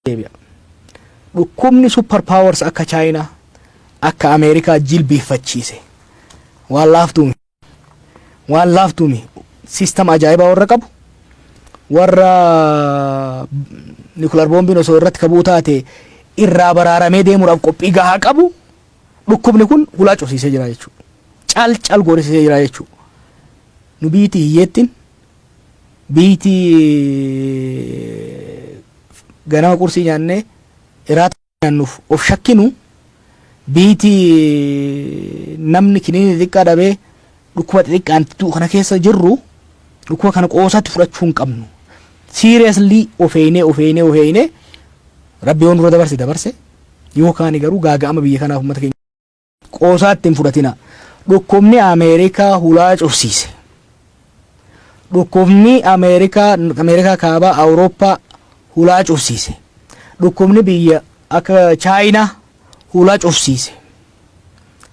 deebi'a. Dhukkubni super powers akka Chaayinaa akka Ameerikaa jilbiiffachiise waan laaftuumi. Waan laaftuumi. Siistam ajaa'ibaa warra qabu warra nikular boombiin osoo irratti kabuu taate irraa baraaramee deemuudhaaf qophii gahaa qabu dhukkubni kun hulaa cufsiisee jira jechuudha. Cal cal goorisiisee jira jechuudha. Nu biyyittii hiyyeettiin Biyti ganama qursii nyaannee iraata nyaannuuf of shakkinu biyti namni kiniini xixiqqaa dhabee dhukkuba xixiqqaan du'u kana keessa jirru dhukkuba kana qoosaatti fudhachuu hin qabnu. Seriously of eeynee of eeynee of eeynee rabbi yoo nurra dabarse dabarse yoo kaani garuu gaaga'ama biyya kanaaf uummata keenya Qoosaatti hin fudhatinaa. Dhukkubni Ameerikaa hulaa cufsiise. Dhukkubni Ameerikaa, Ameerikaa Kaabaa, Awurooppaa hulaa cufsiise. Dhukkubni biyya akka Chaayinaa hulaa cufsiise.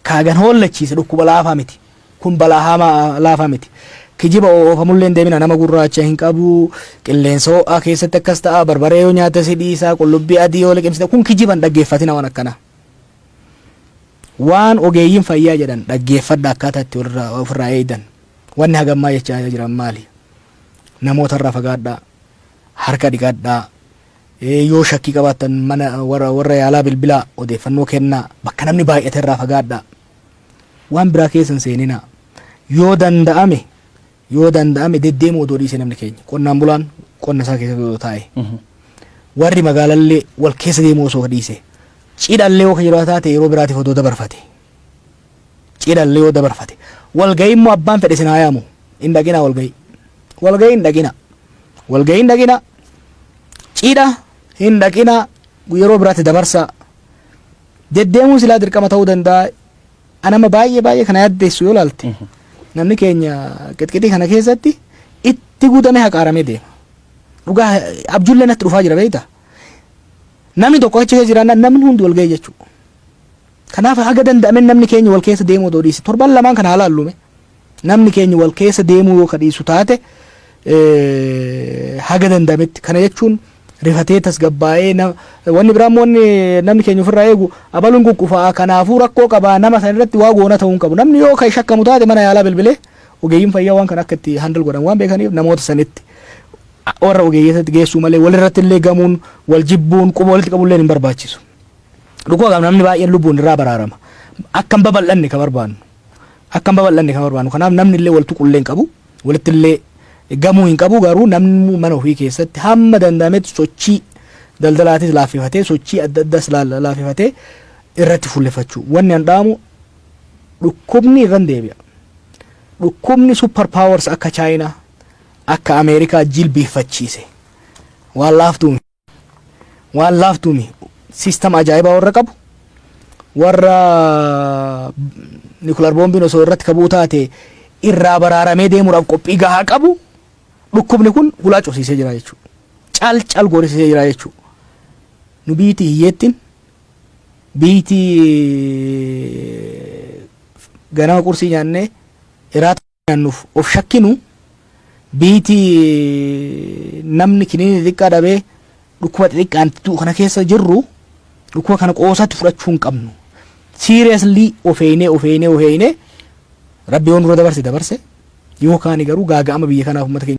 Kaagan hoollachiise dhukkuba laafaa miti. Kun balaa hamaa laafaa miti. Kijiba oofamullee hin deemina nama gurraacha hin qabu, qilleensa ho'aa keessatti akkas ta'a, barbaree yoo nyaata si dhiisa, qullubbii adii yoo liqimsite kun kijiba hin dhaggeeffatina waan akkanaa. Waan ogeeyyiin fayyaa jedhan dhaggeeffadhaa akkaataa itti walirraa of irraa eegdan. Wanni hagammaa jechaa jiran maali? Namoota irraa fagaadhaa, harka dhiqadhaa, ee, yoo shakkii qabaattan mana warra, warra yaalaa bilbilaa, odeeffannoo kennaa, bakka namni baay'ate irraa fagaadhaa. Waan biraa keessa hin seeninaa. Yoo danda'ame Yoo danda'ame deddeemuu odoo dhiisee namni keenya qonnaan bulaan qonna isaa keessatti odoo taa'e warri magaalallee wal keessa deemuu osoo dhiise cidhallee yoo yeroo taate yeroo biraatiif odoo dabarfate cidhallee yoo dabarfate walga'ii immoo abbaan fedhe sinaa yaamu hin dhaqinaa walga'ii walga'ii hin dhaqinaa walga'ii hin dhaqinaa cidha hin dhaqinaa yeroo biraatti dabarsaa deddeemuun silaa dirqama ta'uu danda'a An amma baay'ee baay'ee kana yaaddeessu yoo ilaalte namni keenya qixqixii kana keessatti itti guutamee haqaaramee deema. Dhugaa abjullee natti dhufaa jira beekta. Namni tokko achi keessa jiraannaan namni hundi wal ga'ee jechuudha. Kanaaf haga danda'amen namni keenya wal keessa deemuu odoo dhiise torban lamaan kana haa laallume. Namni keenya wal keessa deemuu yoo ka dhiisu taate haga danda'ametti kana jechuun rifatee tasgabbaa'ee na- wanni biraa immoo wanni namni keenya ofirraa eegu abaluun quqqufaa kanaafuu rakkoo qabaa nama san irratti waa goona ta'uu hin qabu namni yoo kan shakkamu taate mana yaalaa bilbilee ogeeyyiin fayyaa waan kana akka itti handle godhan waan beekaniif namoota sanitti warra ogeeyyotatti geessuu malee walirratti illee gamuun wal jibbuun quba walitti qabuun illee hin barbaachisu. Dhukkuba kana namni baay'een lubbuun irraa baraarama. Akka hin babal'anne ka barbaannu. akka hin babal'anne kan barbaannu. Kanaaf namni illee wal tuqu illee hin qabu, walitti illee gamuu hin qabu, garuu namni mana ofii keessatti hamma danda'ametti sochii daldalaatis laaffifatee, sochii adda addaas laaffifatee irratti fuulleffachuu. Wanni an dhaamu dhukkubni irran deebi'a. Dhukkubni super powers akka Chaayinaa, akka Ameerikaa jilbiiffachiise waan laaftuu miti. waan laaftuumi siistam ajaa'ibaa warra qabu warra nikular boombiin osoo irratti kabuu taate irraa baraaramee deemuudhaaf qophii gahaa qabu dhukkubni kun hulaa cufsiisee jira jechuudha. Cal cal goorisiisee jira jechuudha. Nu biyyiti hiyyeettiin biyyiti ganama qursii nyaannee iraata. nyaannuuf of shakkinu biiti namni kiniinii xiqqaa dhabee dhukkuba xixiqqaan du'u kana keessa jirru dhukkuba kana qoosaatti fudhachuu hin qabnu. Siiriyaslii of eeynee of eeynee of eeynee rabbi yoo nurra dabarse dabarse yoo kaani garuu gaaga'ama biyya kanaaf uummata keenya.